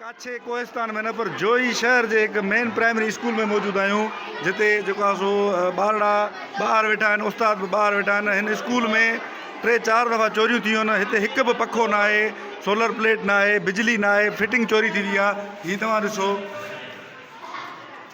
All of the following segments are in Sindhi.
ڪاڇي ڪوهستان ۾ نه پر جوهي شهر جي هڪ مين پرائمري اسڪول ۾ موجود آهيون جتي جيڪو آهي سو ٻارڙا ٻاهر ويٺا آهن استاد به ٻاهر ويٺا آهن هن اسڪول ۾ ٽي چار دفعا چوريون ٿيون آهن هتي هڪ به پکو نه آهي سولر پليٽ نه آهي بجلي نه آهي فٽنگ چوري ٿي وئي آهي هي توهان ڏسو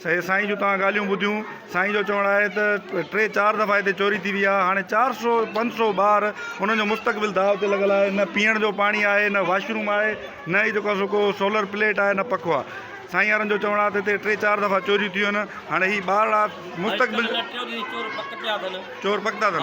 سي سائين جون توهان ڳالهيون ٻڌيون، سائين جو چوڻ آهي ته ٽي چار دفعا هتي چوري ٿي وئي آهي، هاڻي چار سئو پنج سئو ٻار انهن جو مستقبل داء تي لڳل آهي، نه پيئڻ جو پاڻي آهي، نه واش روم آهي، نه ئي جيڪو آهي سو ڪو سولر پليٽ آهي، نه پکو آهي، سائين وارن جو چوڻ آهي ته هتي ٽي چار دفعا چوريون ٿيون آهن، هاڻي هي ٻارڙا مستقبل چور پڪتا اٿن.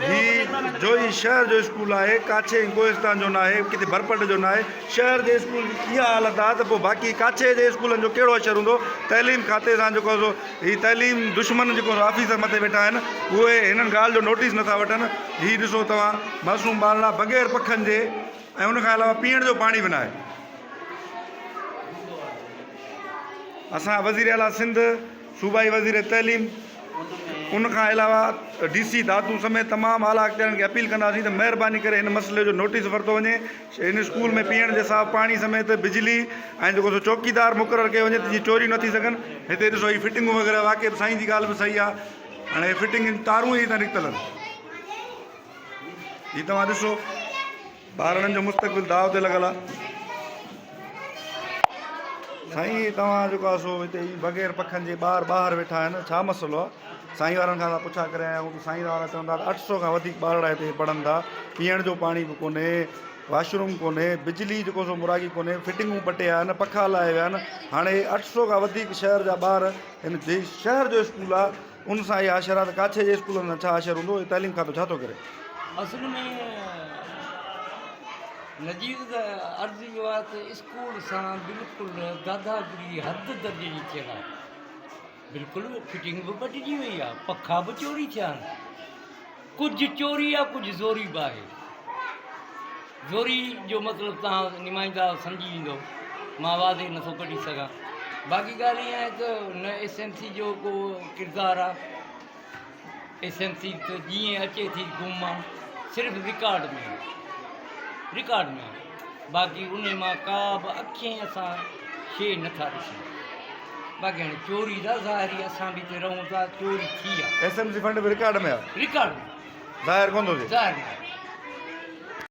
هي جوئي شهر جو اسڪول آهي، ڪاڇي ۽ ڪوهستان جو ناهي، ڪٿي ڀرپٽ جو ناهي. شهر جي اسڪول جي اها حالت آهي ته پوء باقي ڪاڇي جي اسڪولن جو ڪهڙو حشر هوندو. تعليم کاتي سان جيڪو سو هي تعليم دشمن جيڪو سو آفيسر مٿي ويٺا آهن، اهي هنن ڳالهه جو نوٽيس نٿا وٺن. هي ڏسو توهان معصوم ٻارڙا بغير پکن جي ۽ ان کان علاوه پيئڻ جو پاڻي به ناهي. اسان وزيراعليٰ سنڌ، صوبائي وزير تعليم ان کان علاوه ڊي سي دادو سميت تمام اعليٰ اختيارين کي اپيل ڪنداسين ته مهرباني ڪري هن مسئلي جو نوٽيس ورتو وڃي هن اسڪول ۾ پيئڻ جي صاف پاڻي سميت بجلي ۽ جيڪو سو چوڪيدار مقرر ڪيو وڃي ته جيئن چوريون نه ٿي سگهن هتي ڏسو هي فٽنگون وغيره واقعي سائين جي ڳالهه به صحيح آ هاڻي هي فٽنگ تارون ئي هتان نڪتل آهن هي توهان ڏسو ٻارڙن جو مستقبل داء تي لڳل آ. سائين توهان جيڪو آ سو هتي اي بغير پکن جي ٻار ٻاهر ويٺا آهن ڇا مسئلو آ؟ سائين وارن کان اسان پڇا ڪري آيا آهيون ته سائين وارا چون ٿا ته اٺ سؤ کان وڌيڪ ٻارڙا هتي پڙهن ٿا پيئڻ جو پاڻي به ڪونهي واش روم ڪونهي بجلي جيڪو سو مراڳي ڪونهي فٽنگون ٻه ٽي آهن پکا هلائي ويا آهن هاڻي اٺ سؤ کان وڌيڪ شهر جا ٻار هن جي شهر جو اسڪول آ ان سان اهي آشرا ته ڪاڇي جي اسڪولن سان ڇا آشر هوندو اهي تعليم کاتو ڇا ٿو ڪري. اصل ۾ نذير ته عرض اهو آهي ته اسڪول سان بلڪل گاداگري حد درجي جي ٿيل آهي بلڪل فٽنگ به ٻٽجي وئي آهي پکا به چوري ٿيا آهن. ڪجهه چوري آ ڪجهه زوري به آهي. زوري جو مطلب توهان نمائندا سمجهي ويندؤ مان واضح نٿو ڪڍي سگهان. باقي ڳالهه اها آهي ته نه ايس ايم سي جو ڪو ڪردار آ. ايس ايم سي ته جيئن اچي ٿي گم آ. صرف رڪارڊ ۾ آ. رڪارڊ ۾ آ. باقي انهي مان ڪا به اکين اسان شيء نه ٿا ڏسون. باقي هاڻي چوري ته ظاهر ئي اسان به هتي رهون ٿا چوري ٿي آ. ايس ايم سي فنڊ به رڪارڊ ۾ آ. رڪارڊ ۾ آ. ظاهر ڪونه ٿو ٿئي. ظاهر ڪونه ٿو ٿئي.